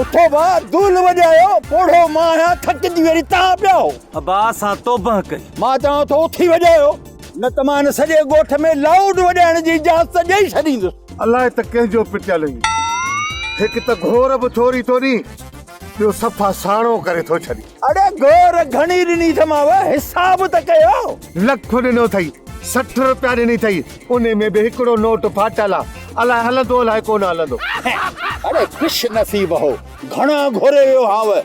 اٿو ڀاء، دول وڄايو، پوڙهو مان آهيان، ٿڪجي وري توهان پياهو. ابا سان توبهه ڪئي. مان چوان ٿو اٿي وڄايو، نه ته مان هن سڄي ڳوٺ ۾ لائوڊ وڄائڻ جي اجازت ڏيئي ڇڏيندس. الاء ته ڪنهن جو پٽيل هي. هڪ ته گهور به ٿوري ٿو ڏي، ٻيو صفا ساڻو ڪري ٿو ڇڏي. اڙي گور گهڻي ڏني اٿم آء حساب ته ڪيو. لک ڏنو اٿئي سٺ روپيا ڏني اٿئي انهي ۾ به هڪڙو نوٽ ڦاٽل آ الائي هلندو الائي ڪونه هلندو. اڙي خوش نصيب هو گهڻا گهري ويو هانء.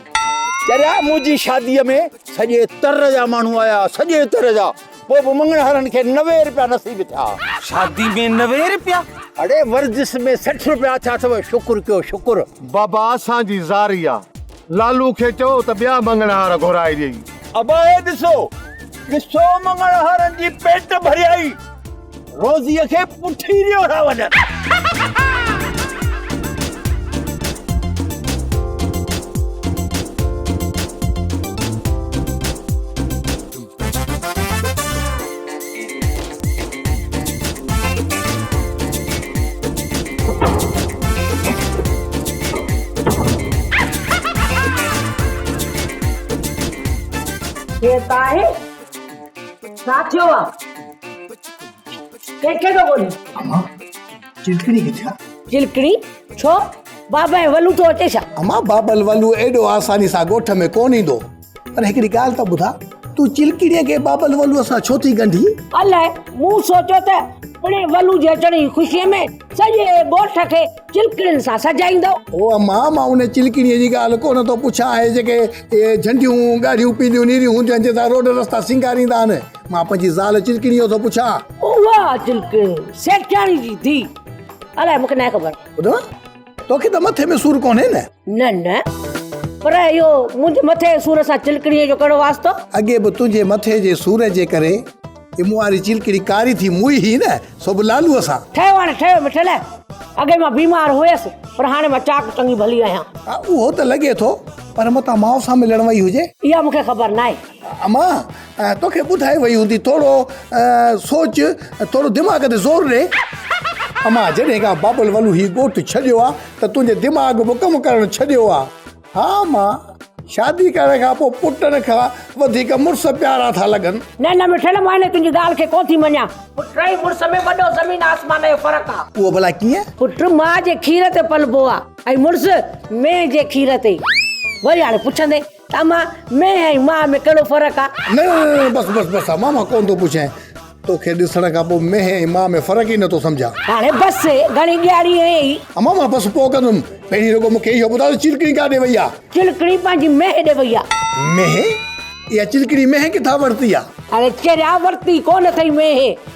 چريا منهنجي شادي ۾ سڄي تر جا ماڻهو آيا سڄي تر جا پوء به مڱڻهارن کي نوي روپيا نصيب ٿيا. شادي ۾ نوي روپيا؟ اڙي ورجس ۾ سٺ روپيا ٿيا اٿو شڪر ڪيو شڪر. بابا اسان جي زاري آ. لالو کي چئو ته ٻيا مڱڻهار گهرائي ڏئي. ابائي ڏسو ڏسو مڱڻهارن جي پيٽ ڀريائي روزيء کي پٺي ڏيو ٿا وڃن. هي طاهر ڇا ٿيو آ ڪنهن کي ٿو ڳولين اما چلڪڻي ڪٿي آ چلڪڻي ڇو بابا ولو ٿو اچي ڇا اما بابل ولو ايڏو آساني سان ڳوٺ ۾ ڪون ايندو پر هڪڙي ڳالهه ته ٻڌاء تون چلڪڙيء کي بابل ولوء سان ڇو ٿي ڳنڍي؟ الاء، مون سوچيو ته پڻهين ولوء جي اچڻ جي خوشيء ۾ سڄي ڳوٺ کي چلڪڙين سان سجائيندو. او اما، مان ان چلڪڙيء جي ڳالهه ڪونه ٿو پڇان، اهي جيڪي جهنڊيون، ڳاڙهيون پيليون نيريون هونديون آهن، جنهن سان روڊ رستا سينگاريندا آهن. مان پنهنجي زال چلڪڙيء جو ٿو پڇان. اها چلڪڙين سيٺياڻي جي ڌيء. الاء، مون کي ناهي خبر. ٻڌو. توکي ته مٿي ۾ سور ڪونهي نه نه نه پر اهو منهنجي مٿي سور سان چلڪڙي جو ڪهڙو واسطو اڳي به تنهنجي مٿي جي سور جي ڪري هي مون واري چلڪڙي ڪاري ٿي موئي هي نه سو به لالو سان ٺهيو هاڻي ٺهيو مٺل اڳي مان بيمار هيس پر هاڻي مان چاڪ چڱي ڀلي آهيان اهو ته لڳي ٿو پر متان ماء سان ملڻ وئي هجي اها مونکي خبر ناهي امان توکي ٻڌائي وئي هوندي ٿورو سوچ ٿورو دماغ تي زور ڏي. اما جڏهن کان بابل ولو هي ڳوٺ ڇڏيو آ ته تنهنجي دماغ به ڪم ڪرڻ ڇڏيو آ. ها اما شادي ڪرڻ کان پوء پٽن کان وڌيڪ مڙس پيارا ٿا لڳن. نه نه مٺڙ مان هن تنهنجي ڳالهه کي ڪو ٿي مڃان. پٽ ۽ مڙس ۾ وڏو زمين آسمان جو فرق آ. اهو ڀلا ڪيئن؟ پٽ ماء جي کير تي پلبو آ ۽ مڙس مينهن جي کير تي. وري هاڻي پڇندين. اما، مينهن ۽ ماء ۾ ڪهڙو فرق آ؟ نه نه نه نه بس بس بس اما مان ڪونه ٿو پڇين. توکي ڏسڻ کان پوء مينهن ۽ ماء ۾ فرق ئي نه ٿو سمجهان. هاڻي بس گهڻي ڏياري هينئي. اما مان بس پوء ڪندم. پهرين رڳو مون کي اهو ٻڌاء ته چلڪڻي ڪاڏي وئي آ؟ چلڪڻي پنهنجي مينهن ڏي وئي آ. مينهن؟ اها چلڪڻي مينهن ڪٿان ورتي آ؟ اڙي چريا ورتي ڪونه اٿئي مينهن.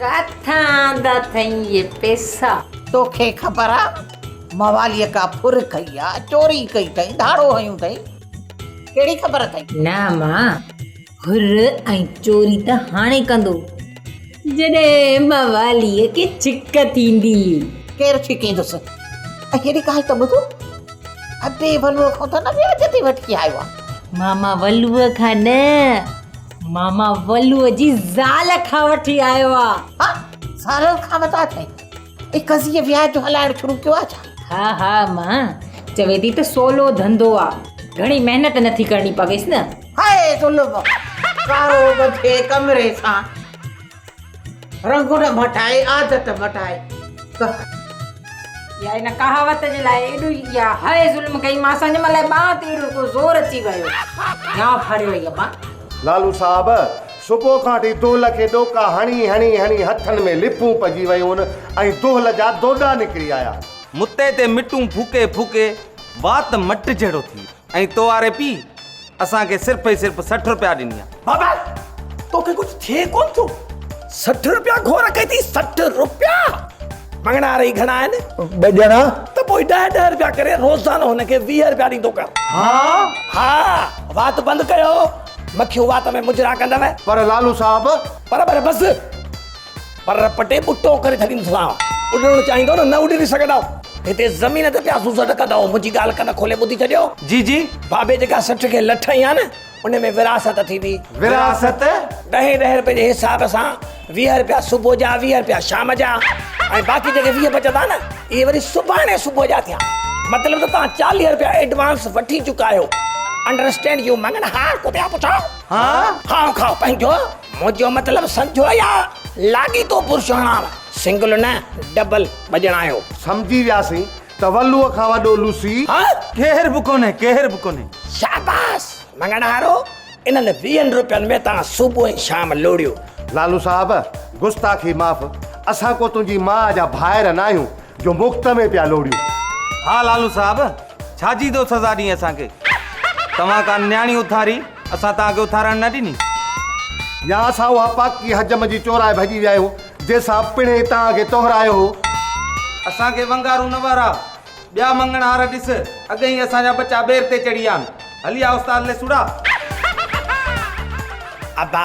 ڪٿان آندا اٿئي اهي پيسا؟ توکي خبر آ مواليء ڪا ڦر کئي آ، چوري ڪئي اٿئي، ڌاڙو هنيو اٿئي، ڪهڙي خبر اٿئي؟ نه اما، ڦر ۽ چوري ته هاڻي ڪندو، جڏهن مواليء کي ڇڪ ٿيندي. ڪير ڇڪيندس؟ ۽ هيڏي ڳالهه ته ٻڌو، ابي ولوء کان ته نه وياج تي وٺي آيو آ؟ ماما ولوء کان نه. ماما ولوء جي زال کان وٺي آيو آ ها زال کان ودا ٿئي اي قضيه وياج جو هلائڻ شروع ڪيو آ ڇا ها ها مان چوي ٿي ته سولو ڌنڌو آ گهڻي محنت نٿي ڪرڻي پويس نه هاء ظلم ڪارو ٻڌي ڪمري سان رنگ نه مٽائي عادت مٽائي ڪه. يا ان ڪهاوت جي لاء ايڏو ئي يا هائي ظلم ڪئيمانس ان مهل ٻانهن تي اهڙو ڪو زور اچي ويو يا ڦڙيو اي ابا. لالو صاحب صبح کان وٺي دهل کي ڏوڪا هڻي هڻي هڻي هٿن ۾ لپون پئجي ويون ۽ دهل جا دوڏا نڪري آيا. متي تي مٽون ڦوڪي ڦوڪي وات مٽ جهڙو ٿي ويو ۽ تو آري پي. اسان کي صرف ۽ صرف سٺ روپيا ڏني آ. بابا توکي ڪجھ ٿئي ڪون ٿو سٺ روپيا گھور ڪئي ٿي سٺ روپيا مڱڻا رھي گھڻا آھن ٻه ڄڻا ته پوء ڏهه ڏهه روپيا ڪري روزانو ھن کي ويهه روپيا ڏيندو ڪر ها ها وات بند ڪيو مکيون وات ۾ مجرا ڪندو پر لالو صاحب پر پر بس. پر پٽي ٻٽو ڪري ڇڏيندو سان. اڏڻ چاهيندو نه نه اڏري سگهندؤ. هتي زمين تي پيا سوسٽ ڪندؤ. منهنجي ڳالهه ڪن کولي ٻڌي ڇڏيو. جي جي. بابي جيڪا سٺ کي لٺ هنئي ها نه ان ۾ وراثت ٿيندي. وراثت؟ ڏهين ڏهين رپئي جي حساب سان ويهه رپيا صبح جا ويهه رپيا شام جا ۽ باقي جيڪي ويهه بچندا نه اهي وري سڀاڻي صبح جا ٿيا. مطلب ته توهان چاليهه رپيا ايڊوانس وٺي چڪا آهيو. انڊرسٽينڊ يو مڱن هار ڪتيا پڇاء. هان. کائو کائو پنهنجو. منهنجو مطلب سمجهو يا لاڳيتو پرشوڻار سنگل نه ڊبل بڄڻايو. سمجهي وياسين ته ولوء کان وڏو لوسي. هاڻ ڪير به ڪونهي ڪير به ڪونهي. شاباس مڱڻهارو انهن ويهن روپين ۾ تان صبح ۽ شام لوڙيو. لالو صاحب گستاخي معاف اسان ڪو تنهنجي ماء جا ڀائر ناهيون جو مفت ۾ پيا لوڙيون. ها لالو صاحب ڇا جي دو سزا ڏئي اسان کي توهان ڪا نياڻي اٿاري. اسان توهان کي اٿارڻ نه ڏني. يا اسان اها پاڪي حجم جي چورائي ڀڄي ويا آهيون، جنهن سان پڻهين توهان کي تهرايو هو. اسان کي ونگارون نه وارا، ٻيا مڱڻهار ڏس، اڳ ئي اسان جا ٻچا ٻير تي چڙهي ويا آهن. هلي آ استاد ليسوڙا. ابا!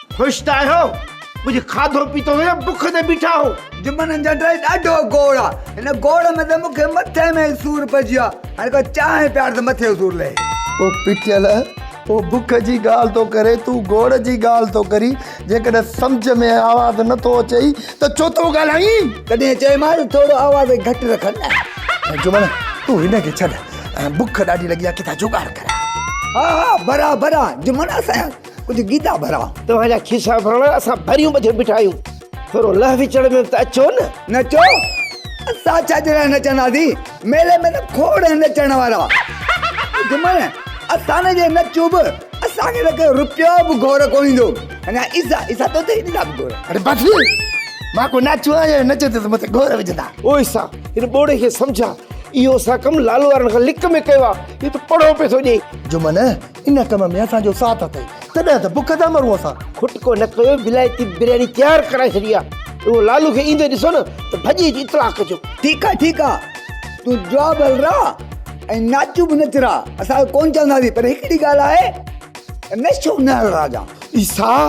خوش ته آهيو؟ ڪجهه کاڌو پيتو هو يا بک تي بيٺا هو؟ جمن هن جا ڊرائي ڏاڍو گوڙ آ هن گوڙ ۾ ته مون کي مٿي ۾ ئي سور پئجي ويو آ هاڻي ڪو چانهه پيار ته مٿي جو سور لهي. او پٽيل او بک جي ڳالهه ٿو ڪرين تون گوڙ جي ڳالهه ٿو ڪرين جيڪڏهن سمجهه ۾ آواز نه ٿو اچئي ته ڇو ٿو ڳالهائين. تڏهن چيمانس ٿورو آواز گهٽ رکن نه. جمن تون هن کي ڇڏ بک ڏاڍي لڳي آ ڪٿان جوڳاڙ ڪريان. ها ها برابر آ جمن اسان جا. ڪجهه گيدا ڀرا. توهان جا کيسا ڀرڻا اسان ڀريون ٻڌي بيٺا آهيون ٿورو لهه وچڙ ۾ به ته اچو نه. نچو؟ اسان ڇا جي لاء نچنداسين؟ ميلي ۾ ته کوڙ نچڻ وارا گهمن. اسان جي نچون به اسان کي ته ڪو رپيو به گهور ڪونه ايندو. اڃا عيسيٰ عيسيٰ تو ته ڏيندا به گهور. اڙي بس ڪر مان ڪو نچ آهيان جو نچ تي تو مون تي گهور وجهندا. او عيسيٰ هن ٻوڙي کي سمجهاء اهو اسان ڪم لالو وارن کان لڪ ۾ ڪيو آهي اهو ته پڙهو پئي ٿو ڏئي. جهمن ان ڪم ۾ اسان جو ساٿ اٿئي تڏهن ته بک تان مرون اسان. کٽڪو نه ڪيو ولايتي برياني تيار ڪرائي ڇڏي آ اهو لالو کي ايندي ڏسو نه ته ڀڄي اچي اطلاع ڪجو. ٺيڪ آ ٺيڪ آ تون جوا ڀل راه ۽ ناچون به نچ راه اسان اهو ڪونه چونداسين پر هڪڙي ڳالهه آهي ته نشو نه هڻ راه جان. عيسيٰ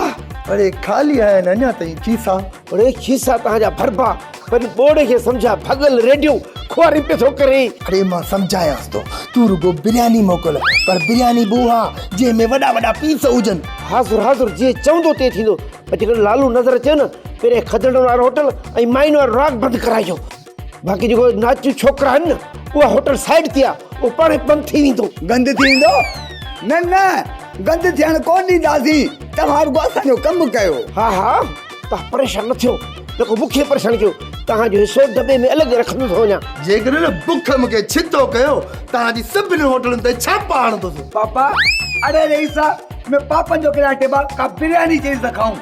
اڙي خالي آهن اڃا تائين کيسا. اڙي کيسا تنهن جا ڀربا پنهنجي ٻوڙي کي سمجهاء ڀڳل ريڊيون خواريون پيو ٿو ڪرين. اڙي مان سمجهايانس ٿو تون رڳو برياني موڪل پر برياني به اها جنهن ۾ وڏا وڏا پيس هجن. حاضر حاضر جيئن چوندو تيئن ٿيندو پر جيڪڏهن لالو نظر اچيو نه پهريان کدڙن وارو هوٽل ۽ مائين وارو راڳ بند ڪرائجو. باقي جيڪو ناچو ڇوڪرا آهن اها هوٽل سائيڊ تي آ او پاڻ بند ٿي ويندو گند ٿي ويندو نه نه گند ٿيڻ ڪون ڏينداسين توهان رڳو اسان جو ڪم ڪيو ها ها توهان پريشان نه ٿيو رڳو مون کي پريشان ڪيو توهان جو حصو دٻي ۾ الڳ رکندو ٿو وڃان جيڪڏهن بک مون کي ڇتو ڪيو توهان جي سڀني هوٽلن تي ڇاپا هڻندوسون پاپا اڙي رئيس ۾ پاپن جو ڪريا ٽيبا ڪا برياني چيز ته کائون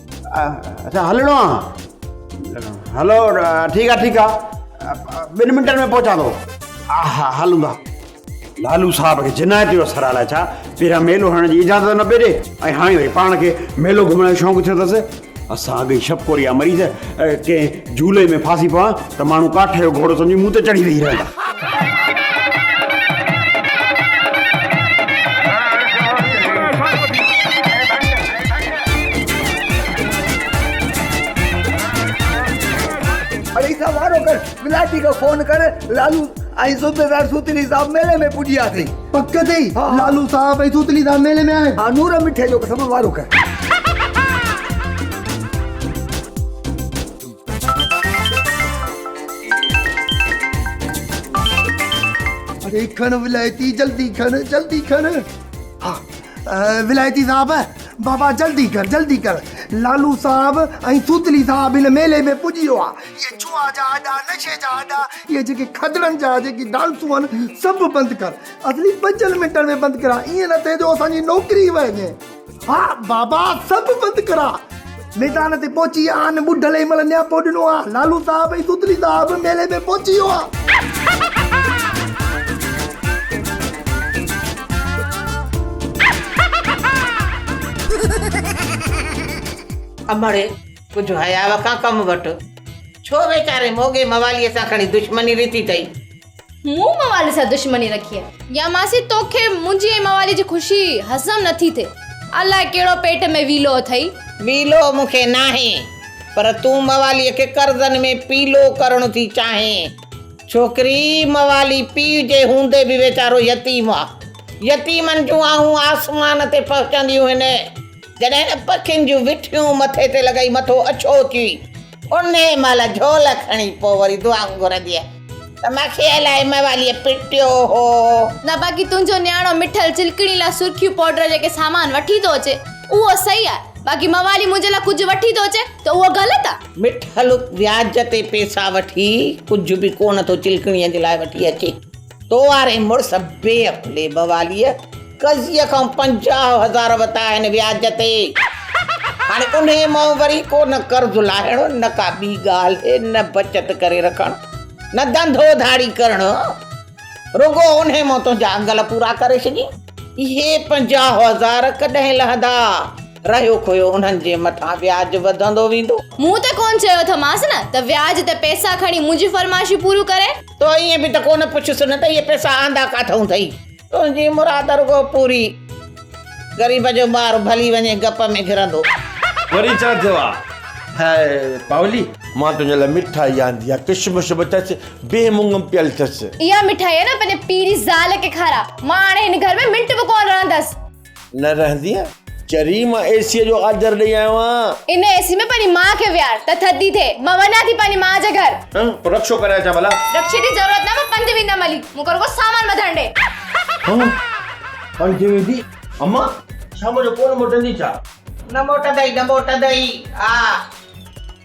اچا هلڻو آ هلو ٺيڪ آ ٺيڪ آ ٻن منٽن ۾ پهچان ٿو ها ها هلون ٿا لالو صاحب کي جنايت جو اثر آ ڇا پيرا ميلو هڻڻ جي اجازت نه پي ڏي ۽ هاڻي وري پاڻ کي ميلو گهمڻ جو شوق ٿيو اٿس اسان اڳ شپ ڪوريا مريض ڪنهن جهولي ۾ ڦاسي پوان ته ماڻهو ڪاٺ جو گهوڙو سمجهي مون تي چڙهي ويهي رهندا. اڙي سا وارو ڪر، ملاٽي کي فون ڪر، لالو ۽ صوبيدار سوتيلي صاحب ميلي ۾ پڄيا اٿئي. پڪ تي لالو صاحب ۽ توتلي صاحب ميلي ۾ آهن. ها نور مٺي جو قسم وارو ڪر. اڙي کڻ ولايتي جلدي کڻ جلدي کڻ. ها ولايتي صاحب بابا جلدي ڪر جلدي ڪر لالو صاحب ۽ توتلي صاحب هن ميلي ۾ پڄي ويو آهي. اهي جوئا جا اڏا نشي جا اڏا. اهي جيڪي کدڙن جا جيڪي ڊانسون هن سڀ بند ڪر. اصلي پنجن منٽن ۾ بند ڪرا ايئن نه ٿئي جو اسان جي نوڪري ئي وهجي. ها بابا سڀ بند ڪرا. ميدان تي پهچي آن ٻڍل ئي مهل نياپو ڏنو آ. لالو صاحب ۽ توتلي صاحب ميلي ۾ پهچي ويو آ. امڙي! ڪجهه حياء کان ڪم وٺ. ڇو ويچاري موڳي مواليء سان کڻي دشمني رٿي اٿئي؟ مون موالي سان دشمني رکي آهي. يا ماسي توکي منهنجي ۽ موالي جي خوشي هضم نٿي ٿئي. الاء ڪهڙو پيٽ ۾ ويلو اٿئي. ويلو مون کي ناهي. پر تون مواليء کي قرضن ۾ پيلو ڪرڻ ٿي چاهين. ڇوڪري، موالي پيء جي هوندي به ويچارو يتيم آ. يتيمن جون آهون آسمان تي پهچنديون هن. جڏهن ته پکين جون وٺيون مٿي تي لڳائي مٿو اڇو ٿي انهي مهل جهول کڻي پوء وري دعائون گهرنديء ته ماکي الائي مواليء پٽيو هو. نه باقي تنهنجو نياڻو مٺل چلڪڻي لاء سرخيون پوڊر جيڪي سامان وٺي ٿو اچي اهو صحيح آهي باقي موالي منهنجي لاء ڪجهه وٺي ٿو اچي ته اهو غلط آهي. مٺل وياج تي پيسا وٺي ڪجهه به ڪونه ٿو چلڪڻيء جي لاء وٺي اچي. تو واري مڙس بي عقلي بواليء قضيء کان پنجاهه هزار وتا آهن وياج تي. هاڻي انهيء مان وري ڪو نه قرض لاهڻ، نه ڪا ٻي ڳالهه، نه بچت ڪري رکڻ، نه ڌنڌو ڌاڙي ڪرڻ. رڳو انهيء مان تنهنجا انگل پورا ڪري ڇڏين. اهي پنجاهه هزار ڪڏهن لهندا؟ رهيو کويو انهن جي مٿان وياج وڌندو ويندو. مون ته ڪونه چيو اٿمانس نه ته وياج تي پئسا کڻي منهنجيون فرمائشون پوريون ڪري. تو ائين به ته ڪو نه پڇيس نه ته اهي پئسا آندا ڪاٿئون ٿئي؟ تنهنجي مراد رڳو پوري. غريب جو ٻار ڀلي وڃي گپ ۾ گهرندو. وري ڇا ٿيو آ هيء پاولي؟ مان تنهنجي لاء مٺائي آندي آ. ڪشمش به اٿس، بيهه مڱ پيل اٿس. اها مٺائي نه پنهنجي پيء جي زال کي کاراء. مان هاڻي هن گهر ۾ منٽ به ڪونه رهندس. نه رهندينء. چري مان اي سيء جو آجر ڏئي آيو آهيان. ان اي سي ۾ پنهنجي ماء کي ويهار ته ٿڌي ٿئي. مان وڃان ٿي پنهنجي ماء جي گهر. ها پوء رڪشو ڪري اچان ڀلا. رڪشي جي ضرورت نه مان پنڌ ويندم علي مون کي رڳو سامان ٻڌڻ ڏي. ها پنڌ ويندي امان شام جو ڪونه موٽندي ڇا. نه موٽندئي نه موٽندئي آ.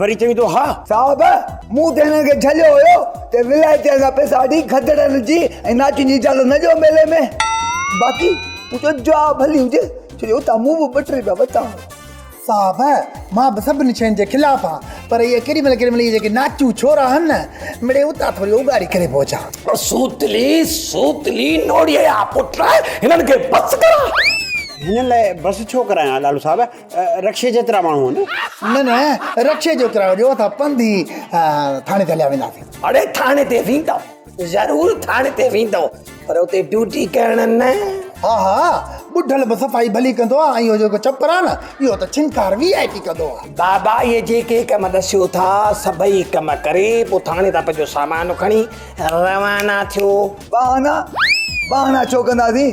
وري چوي ٿو ها صاحب مون ته هنن کي جهليو هيو ته ولايتين کان پئسا وٺي گدڙن جي ۽ ناچين جي اجازت نه ڏيو ميلي ۾ باقي تنهنجو جواب ڀلي هجي ڇو جو اتان مون به ٻه ٽي رپيا ورتا هئا صاحب مان به سڀني شين جي خلاف آهيان پر اهي ڪيڏي مهل ڪيڏي مهل اهي جيڪي ناچيون ڇورا آهن نه مڙي اتان ٿوري اوڳاڙي ڪري به اچان سوتلي سوتلي نوڙيء جا پٽ هنن کي بس ڪراء هنن لاء بس ڇو ڪرايان لاڏو صاحب رڪشي جيترا ماڻهو آهن. نه نه رڪشي جيترا هجو اٿا پنڌ ئي ٿاڻي تي هليا وينداسين. اڙي ٿاڻي تي ويندؤ ضرور ٿاڻي تي ويندؤ پر اتي ڊيوٽي ڪرڻ نه. ها ها ٻڍل به صفائي ڀلي ڪندو آهي ۽ اهو جيڪو چپر آهي نه اهو ته ڇنڪار وي آء پي ڪندو آهي. بابا اهي جيڪي ڪم ڏسيو ٿا سڀئي ڪم ڪري پوء ٿاڻي تان پنهنجو سامان کڻي روانا ٿيو. بهانا بهانا ڇو ڪنداسين.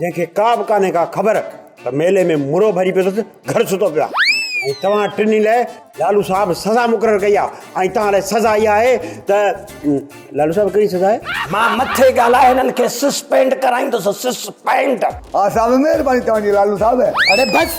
جنهن کي ڪا به ڪانهي ڪا خبر ته ميلي ۾ مرو ڀري پيو اٿس گهر ستو پيو آهي ۽ توهان ٽنهي لاء لالو صاحب سزا مقرر ڪئي آهي ۽ توهان لاء سزا اها آهي ته لالو صاحب ڪهڙي سزا آهي مان مٿي ڳالهائي هنن کي سسپينڊ ڪرائيندس سسپينڊ ها صاحب مهرباني توهان جي لالو صاحب اڙي بس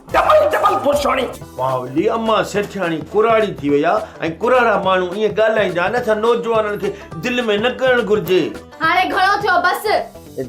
ڊبل ڊبل پرسوڻي. پاولي امان سيٺياڻي ڪراڙي ٿي وئي آ ۽ ڪراڙا ماڻهو ائين ڳالهائيندا آهن اسان نوجوانن کي دل ۾ نه ڪرڻ گهرجي. هاڻي گهڻو ٿيو بس.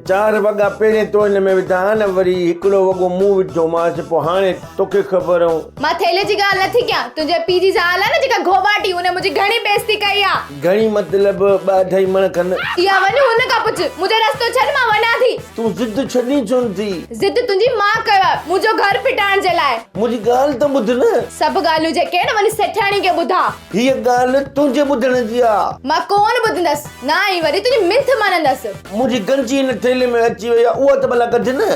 چار وڳا پهرين تو هن ۾ وڌا ها نه وري هڪڙو وڳو مون وڌومانس پوء هاڻي توکي خبر هون. مان ٿيلهي جي ڳالهه نٿي ڪيان تنهنجي پيء جي زال آ نه جيڪا گهوٻاٽي ان منهنجي گهڻي بيعزتي ڪئي آ. گهڻي مطلب ٻه اڍائي مڻ کن. يا وڃ هن کان پڇ. منهنجو رستو ڇڏ مان وڃان ٿي. تون ضد ڇڏي ڇونه ٿي. ضد تنهنجي مان ڪيو آهي. منهنجو گهر ڦٽائڻ جي لاء. منهنجي ڳالهه ته ٻڌ نه. سڀ ڳالهيون جيڪي آهن وڃي سيٺياڻي کي ٻڌاء. هيء ڳالهه تنهنجي ٻڌڻ جي آ. مان ڪونه ٻڌندس. نه ئي وري تنهنجي منٿ مڃندس. منهنجي گنجي هن ٿيلهي ۾ اچي وئي آ اها ته ڀلا ڪڍ نه.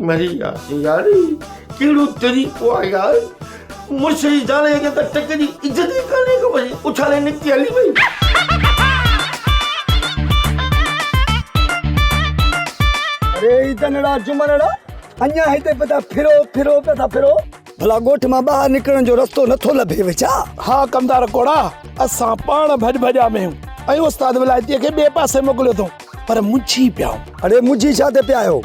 مري وياسين يار هي ڪهڙو طريقو آ يار مڙس جي زال کي ته ٽڪ جي عزت ئي ڪانهي ڪو وڃي اڇالي نڪتي هلي وئي ڙي تنڙا جمنڙا اڃا هتي پتا ڦرو ڦرو پتا ڦرو. ڀلا ڳوٺ مان ٻاهر نڪرڻ جو رستو نٿو لڀيو ڇا؟ ها ڪمدار ڪوڙا، اسان پاڻ ڀڄ ڀڄا ۾ آهيون ۽ استاد ولايتيء کي ٻئي پاسي موڪليو اٿئون، پر منجهي پيا آهيون. اڙي منجهي ڇا تي پيا آهيو؟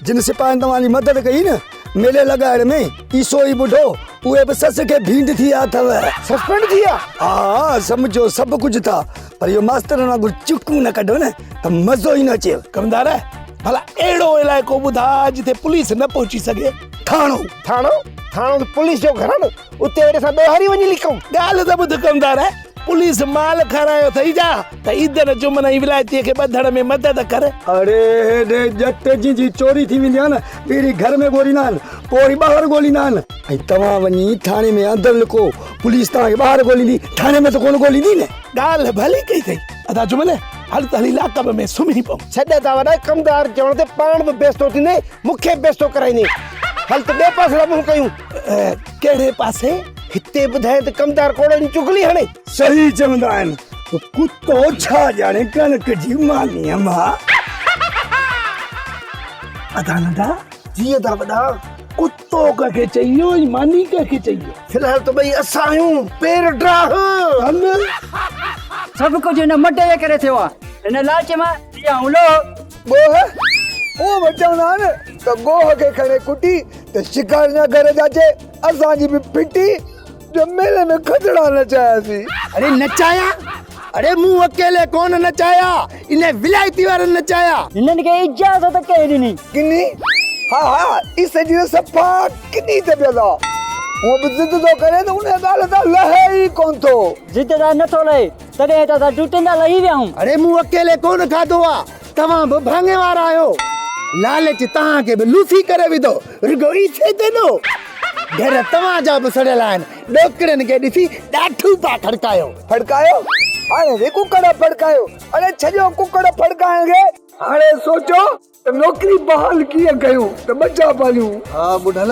جن سپاهين توهان جي مدد ڪئي نه ميلي لڳائڻ ۾، اي سو ئي ٻڍو، اهي به سس کي ڀينڊ ٿي ويا اٿئو. سسپينڊ ٿي ويا؟ ها ها، سمجهو سڀ ڪجهه ٿا، پر اهو ماسترن وانگر چڪون نه ڪڍو نه ته مزو ئي نه اچيو. ڪمدار، ڀلا اهڙو علائقو ٻڌاء جتي پوليس نه پهچي سگهي. ٿاڻو ٿاڻو ٿاڻو ته پوليس جو گهر آ نه اتي وڃي اسان ڏوهاري وڃي لڪون. ڳالهه ته ٻڌ ڪمدار پوليس مال کارايو اٿئي جا ته عيدن جمن ۽ ولايتيء کي ٻڌڻ ۾ مدد ڪر. اڙي هيڏي ڄٽ جنهن جي چوري ٿي ويندي آ نه پهرين گهر ۾ ڳوليندا آهن پوء ئي ٻاهر ڳوليندا آهن. ۽ توهان وڃي ٿاڻي ۾ اندر لڪو پوليس توهان کي ٻاهر ڳوليندي ٿاڻي ۾ ته ڪونه ڳوليندي نه. ڳالهه ڀلي ڪئي اٿئي ادا جمن. هل ته هلي لاڪب ۾ سمهي پئون. ڇڏ ته وڏائي ڪمدار چوڻ تي پاڻ به بيستو ٿيندين مون کي به بيستو ڪرائيندين. هل ته ٻئي پاسي لاء منهن ڪيون. ڪهڙي پاسي؟ هتي ٻڌائين ته ڪمدار ڪوڙن جي چغلي هڻي. صحيح چوندا آهن. ڪتو ڇا ڄاڻي ڪڻڪ جي مانيء مان. ادا ننڍا. جي ادا وڏا. ڪتو. تو ڪنهن کي چيو ۽ ماني ڪنهن کي چيو. في الحال ته ٻئي اسان آهيون پير ڊاهه. سڀ ڪجهه هن مٽ جي ڪري ٿيو آهي. هن لالچ مان ٿي آهون لوهه. ڳوهه اهو به چوندا آهن ته ڳوهه کي کڻي ڪٽي ته شڪار نه گهر جاچي اسان جي به ڦٽي. ڄميل ۾ کدڙا نچاياسين. اڙي نچايا؟ اڙي مون اڪيلي ڪونه نچايا، انهن ولايتي وارن نچايا. هنن کي اجازت ڪنهن ڏني؟ ڪني؟ ها ها اي سڄي ته صفا ڪني ٿي پيو ٿا. هونء به ضد ٿو ڪرين ته انهيء ڳالهه تان لهي ئي ڪونه ٿو. ضد تان نه ٿو لهي، تڏهن ته اسان ڊوٽين تان لهي ويا آهيون. اڙي مون اڪيلي ڪونه کاڌو آ. توهان به ڀاڱي وارا آهيو. لالچ توهان کي به لوسي ڪري وڌو. رڳو عيسي تي ڏو. گهر توهان جا به سڙيل آهن. ڏوڪڙين کي ڏسي ڏاٺو پيا کڙڪايو. کڙڪايو؟ هاڻي به ڪڪڙ ڦڙڪايو. اڙي ڇڏيو ڪڪڙ ڦڙڪائڻ کي. هاڻي سوچيو ته نوڪري بحال ڪيئن ڪيون ته ٻه چار پاليون. ها ٻڍل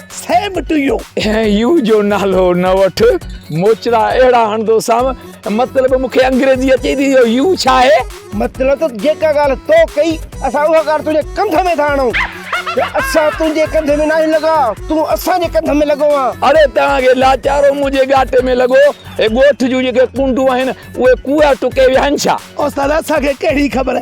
سيم ٽو يو. يو جو نالو نه وٺ موچڙا اهڙا هڻندو سام مطلب مونکي انگريزي اچي ٿي جو يو ڇا آهي. مطلب ته جيڪا ڳالهه تو ڪئي اسان اها ڳالهه تنهنجي ڪنڌ ۾ ٿا هڻون ته اسان تنهنجي ڪنڌ ۾ ناهيون لڳا تون اسان جي ڪنڌ ۾ لڳو آن. اڙي توهان کي لاچارو منهنجي ڳاٽي ۾ لڳو هي ڳوٺ جون جيڪي ڪنڊون آهن اهي ڪوئا ٽڪي ويا آهن ڇا. استاد اسان کي ڪهڙي خبر.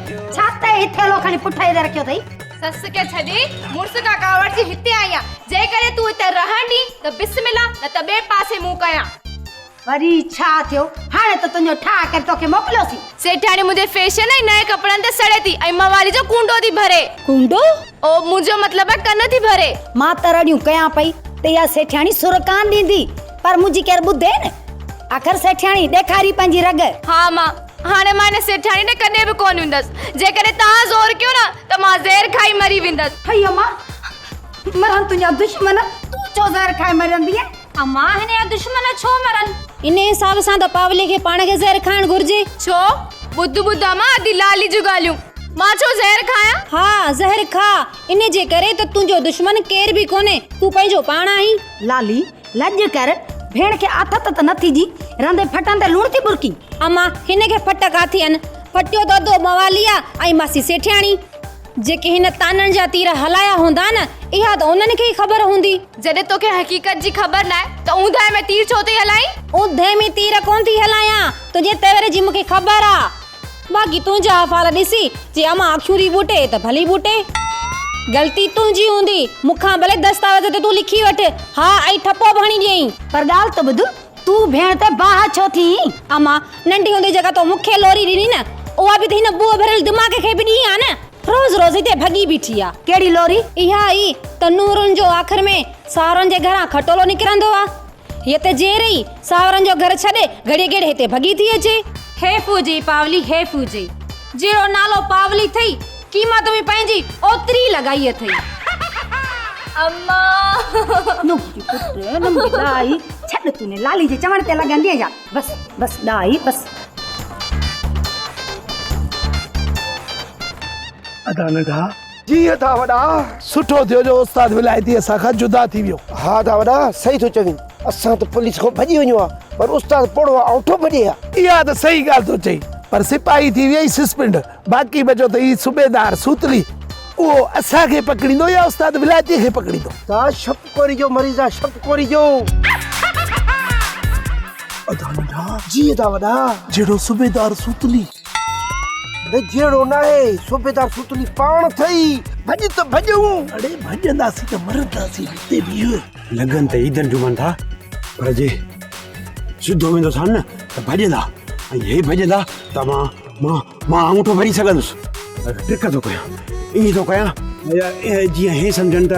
ڇا تئين هي ٿيلهو کڻي پٺئي تي رکيو اٿئي؟ سس کي ڇڏي مڙس کان ڪاوڙجي هتي آئي آهيان. جيڪڏهن تون هتي رهڻ ڏين ته بسم الله نه ته ٻئي پاسي منهن ڪيان. وري ڇا ٿيو؟ هاڻي ته تنهنجو ٺاهه ڪري توکي موڪليوسين. سيٺياڻي منهنجي فيشن ۽ نئين ڪپڙن تي سڙي ٿي ۽ موالي جو ڪونڊو ٿي ڀري. ڪونڊو؟ او منهنجو مطلب آهي ڪن ٿي ڀري. مان ته رڙيون ڪيان پئي ته اها سيٺياڻي سر ڪانه ڏيندي پر منهنجي ڪير ٻڌين. آخر سيٺياڻي ڏيکاري پنهنجي رڳ. ها مان هاڻي مان ان سيٺياڻي ڏي ڪڏهن به ڪونه ويندس. جيڪڏهن توهان زور ڪيو نه ته مان زهر کائي مري ويندس. هئي امان! مرن تنهنجا دشمن، تون ڇو زهر کائي مرندينء؟ امان! هن جا دشمن ڇو مرن؟ ان حساب سان ته پاولي کي پاڻ کي زهر کائڻ گهرجي. ڇو؟ ٻڌ ٻڌ امان ادي لالي جون ڳالهيون. مان ڇو زهر کايان؟ ها زهر کاء. ان جي ڪري ته تنهنجو دشمن ڪير به ڪونهي. تون پنهنجو پاڻ آهين. لالي لڄ ڪر، ڀيڻ کي آٿت ته نه ٿي جي، رنڌي ڦٽن تي لوڻ ٿي ٻرڪين. اما، هن کي ڦٽ ڪا ٿي ان؟ ڦٽيو دودو مواليء ۽ ماسي سيٺياڻي، جيڪي هن طعنن جا تير هلايا هوندا نه، اها ته انهن کي ئي خبر هوندي. جڏهن توکي حقيقت جي خبر ناهي ته اوندهه ۾ تير ڇو ٿي هلائين؟ اوندهه ۾ تير ڪونه ٿي هلايان، تنهنجي تيور جي مون کي خبر آ. باقي تنهنجا احوال ڏسي جي امان اکيون ٿي ٻوٽي ته ڀلي ٻوٽي. غلطي تنهنجي هوندي، مون کان ڀلي دستاويز تي تون لکي وٺ ها ۽ ٺپو به هڻي ڏيئين. پر ڳالهه ته ٻڌ، تون ڀيڻ تي باهه ڇو ٿيئين؟ امان، ننڍي هوندي جيڪا تو مون کي لوري ڏني نه، اها به ته هن ٻوء ڀريل دماغ کي به ڏني آ نه. روز روز هتي ڀڳي بيٺي آ. ڪهڙي لوري؟ اها ئي ته نورن جو آخر ۾ ساهرن جي گهران کٽولو نڪرندو آ. هيء ته جيئري ئي ساهورن جو گهر ڇڏي گهڙيء گهڙيء هتي ڀڳي ٿي اچي. هيء ڦوجي پاولي هيء ڦوجي جهڙو نالو پاولي ٿئي، قيمت به پنهنجي اوتري لڳائي اٿئي. امان! نوڪي پٽ، نمڪي ڏاهي، ڇڏ تون انهيء لالي جي چوڻ تي لڳندينء ڇا؟ بس، بس ڏاهي، بس. ادا ننڍا! جيئن ٿا وڏا. سٺو ٿيو جو استاد ولايتي اسان کان جدا ٿي ويو. ها ٿا وڏا صحيح ٿو چوين اسان ته پوليس کان ڀڄي وڃون ها پر استاد پوڙهو ها اوٺو ڀڄي ها. اها ته صحيح ڳالهه ٿو چئي پر سپاهي ٿي ويئي سسپينڊ باقي بچو ته هي صوبيدار سوتلي اهو اسان کي پڪڙيندو يا استاد ولايتي کي پڪڙيندو. ادا شپ ڪوري جو مريض آ شپ ڪوري جو. ادا ننڍا جيئن ٿا وڏا. جهڙو صوبيدار سوتلي. اڙي جهڙو ناهي صوبيدار سوتلي پاڻ ٿئي ڀڄ ته ڀڄون اڙي ڀڄنداسين ته مرنداسين هتي بيهه لڳن ته عيدن جمعن ٿا پر جي سڌو ويندوسان نه ته ڀڄندا ۽ هي ڀڄندا ته مان مان مان انگوٺو ڀري سگهندس ٽرڪ ٿو ڪيان ائين ٿو ڪيان جيئن هي سمجهن ته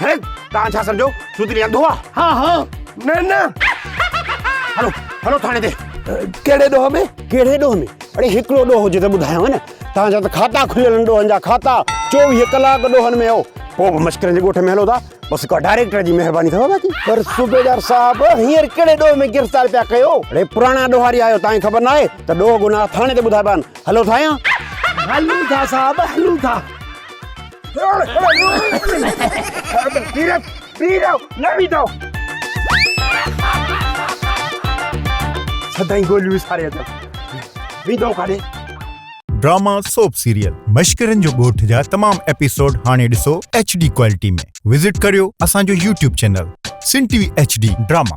هي تان ڇا سمجهو سوتلي انڌو آ ها ها نه نه هلو هلو ٿاڻي تي ڪهڙي ڏوهه ۾ ڪهڙي ڏوهه ۾ اڙي هڪڙو ڏوهه هجي ته ٻڌايو نه تان جا ته کاتا کليل ڏوهن جا کاتا 24 ڪلاڪ ڏوهن ۾ هو پو به مشڪرن جي ڳوٺ ۾ هلو ٿا بس ڪا ڊائريڪٽر جي مهرباني ٿو باقي پر صوبيدار صاحب هينئر ڪهڙي ڏوهه ۾ گرفتار پيا ڪيو اڙي پراڻا ڏوهاري آهيو تان خبر نه آهي ته ڏوهه گناهه ٿاڻي تي ٻڌائبا آهن هلو ٿا يا هلون ٿا صاحب هلون ٿا ڊراما سوپ سيريل مشڪرين جو ڳوٺ جا تمام ايپيسوڊ هاڻي ڏسو HD ڪوالٽي ۾ وزٽ ڪريو اسان جو يوٽيوب چينل سنڌ ٽي وي HD ڊراما.